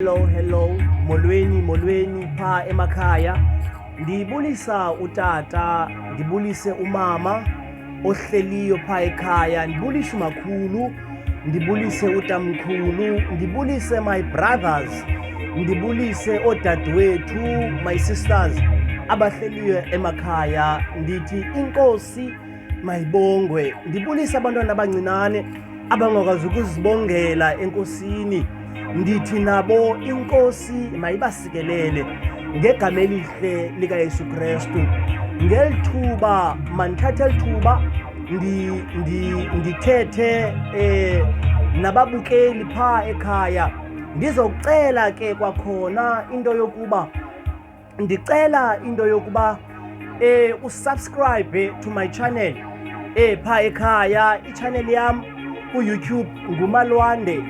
Hello, hello, molweni, molweni phaa emakhaya. Ndibulisa utata, ndibulise umama ohleliyo phaa ekhaya, ndibulise umakhulu, ndibulise utamkhulu, ndibulise my brothers, ndibulise oodadewethu, my sisters abahleliyo emakhaya. Ndithi inkosi mayibongwe ndibulise abantwana abancinane abangakwazi ukuzibongela enkosini ndithi nabo inkosi mayibasikelele ngegama elihle likayesu kristu ngeli thuba mandithathe eli thuba ndithethe um nababukeli phaa ekhaya ndizokucela ke kwakhona into yokuba ndicela into yokuba eh usubscribe to my channel eh pha ekhaya ichannel yam ku-youtube ngumalwande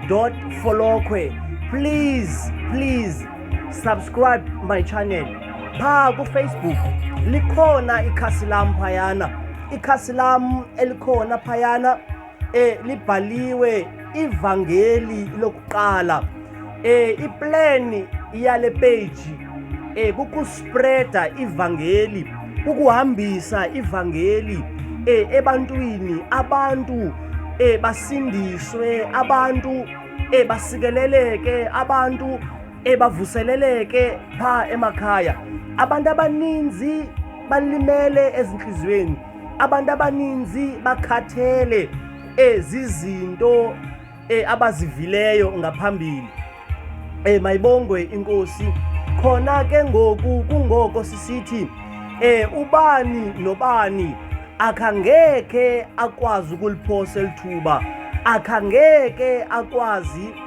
dot folokhwe please please subscribe my channel pha kufacebook likhona ikhasi lam phayana ikhasi lam elikhona phayana eh libhaliwe ivangeli lokuqala eh iplan yale page eh kukuspreada ivangeli kukuhambisa ivangeli eh ebantwini abantu eh basindiswe abantu eh basikeleleke abantu eh bavuseleleke pha emakhaya abantu abaninzi balimele ezinhlizweni abantu abaninzi bakhathele ezi zinto eh, abazivileyo ngaphambili eh, mayibongwe inkosi khona ke ngoku kungoko sisithi eh, ubani nobani akhangekhe akwazi ukuliphosa elithuba akhangeke akwazi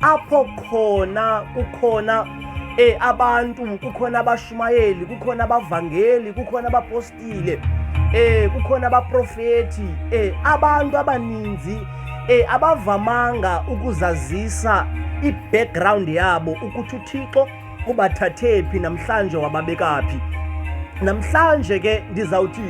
apho khona kukhona um abantu kukhona abashumayeli kukhona abavangeli kukhona abapostile um kukhona abaprofeti um abantu abaninzi um abavamanga ukuzazisa i-background yabo ukuthi uthixo ubathathephi namhlanje wababekaphi namhlanje ke ndizawuthi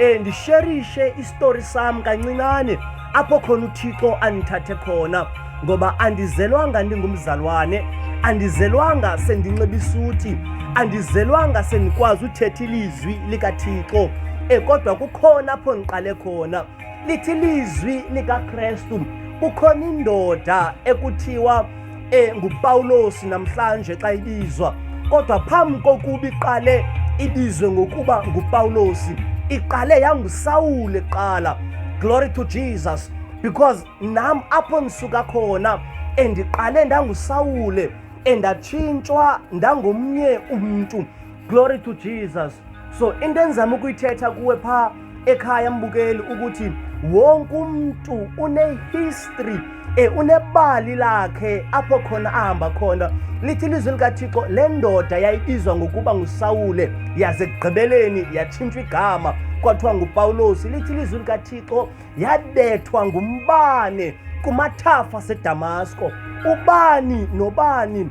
um ndisherishe isitori sam kancinane apho khona uthixo andithathe khona ngoba andizelwanga ndingumzalwane andizelwanga sendinxiba isuti andizelwanga sendikwazi uthetha ilizwi likathixo um kodwa kukhona apho ndiqale khona lithi ilizwi likakrestu kukhona indoda ekuthiwa engupawulosi namhlanje xa ibizwa kodwa phambi kokuba iqale ibizwe ngokuba ngupawulosi iqale yangusawule kuqala glory to jesus because nam apho ndisuka khona endiqale ndangusawule endatshintshwa ndangomnye umntu glory to jesus so into endizama ukuyithetha kuwe phaa ekhaya mbukeli ukuthi wonke umuntu unehistory e unebali lakhe apho khona ahamba khona lithi ilizwi likathixo le ndoda yayibizwa ngokuba ngusawule yaze ekugqibeleni yatshintshwa igama kwathiwa ngupawulosi lithi ilizwi likathixo yabethwa ngumbane kumathafa sedamasko ubani nobani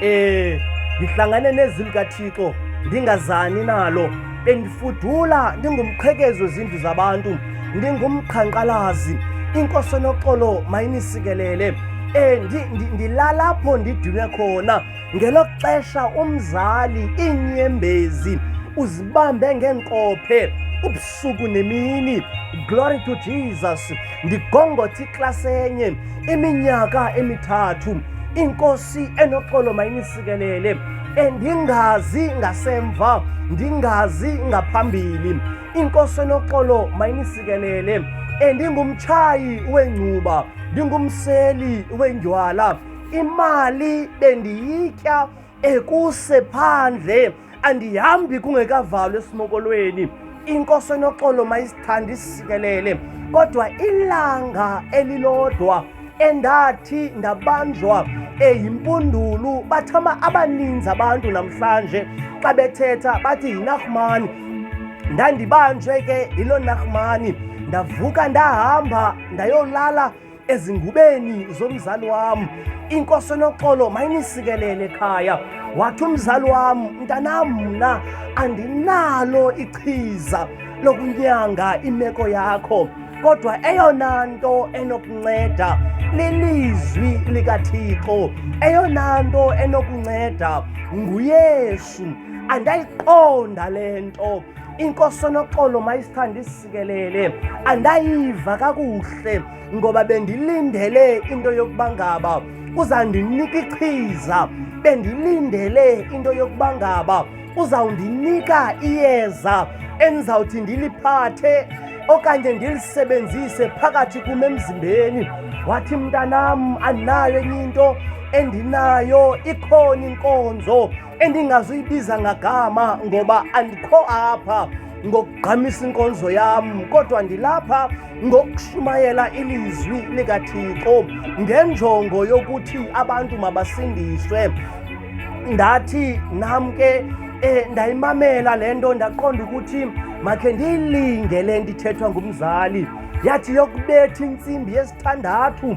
Eh, ndihlangane nezwi likaThixo ndingazani nalo. Bendifudula ndingumqhekezo zindlu zabantu, ndingumqhankqalazi. Inkosi enoxolo mayinisikelele. Eh, ndi, ndi, ndilalapho ndidinwe khona. Ngelo xesha umzali iinyembezi uzibambe ngeenkophe ubusuku nemini. Glory to Jesus. ndigongothe iklasi enye iminyaka emithathu inkosi enoxolo mayinisikelele endingazi ngasemva ndingazi ngaphambili inkosi enoxolo mayinisikelele endingumtshayi wengcuba ndingumseli wendywala imali bendiyitya ekuse phandle andihambi kungekavalwa esimokolweni inkosi enoxolo mayisithanda isisikelele kodwa ilanga elilodwa endathi ndabanjwa eyimpundulu bathama abaninzi abantu namhlanje xa bethetha bathi yinahmani ndandibanjwe ke yiloo nahmani ndavuka ndahamba ndayolala ezingubeni zomzali wam inkosi enoxolo mayinisikelele ekhaya wathi umzali wam mntanam mna andinalo ichiza lokunyanga imeko yakho kodwa eyona nto enokunceda lilizwi likathixo eyona nto enokunceda nguyesu andayiqonda le nto inkosi enoxolo mayisithandisa sikelele andayiva kakuhle ngoba bendilindele into yokuba ngaba uzandinika ichiza bendilindele into yokuba ngaba uzawundinika iyeza endizawuthi ndiliphathe okanye ndilisebenzise phakathi kum emzimbeni wathi mntanam andinayo enye into endinayo ikhona inkonzo endingazuyibiza ngagama ngoba andikho apha ngokugqamisa inkonzo yam kodwa ndilapha ngokushumayela ilizwi likathixo ngenjongo yokuthi abantu mabasindiswe ndathi nam ke eh ndayimamela lento ndaqonda ukuthi makhe ndiyilinge le ndithethwa ngumzali yathi yokubetha intsimbi yesithandathu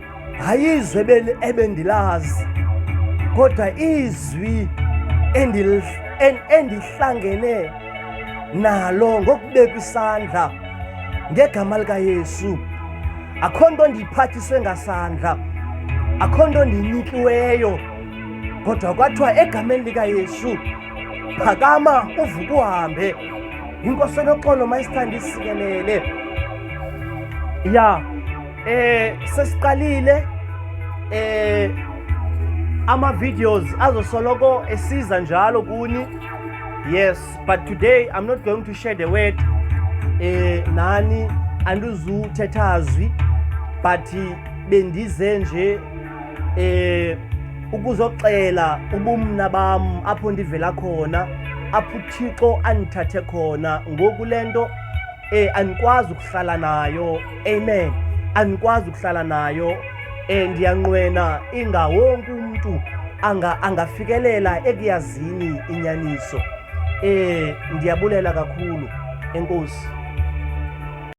ayizwe ebendilazi kodwa izwi endihlangene nalo ngokubeka isandla ngegama likayesu akho nto ndiyiphathiswe ngasandla akho nto ndiyinikiweyo kodwa kwathiwa egameni likayesu phakama uvuke uhambe inkosi enoxolo mayisithanda isikelele ya yeah. Eh sesiqalile eh ama videos azosoloko esiza njalo kuni. Yes, but today I'm not going to share the word eh nani andizuthetha azwi but bendize nje eh ukuzoxela ubumna bam apho ndivela khona apho uThixo andithathe khona ngoku lento eh anikwazi ukuhlala nayo amen anikwazi ukuhlala nayo eh ndiyanqwena inga wonke umuntu anga angafikelela ekuyazini inyaniso eh ndiyabulela kakhulu enkosi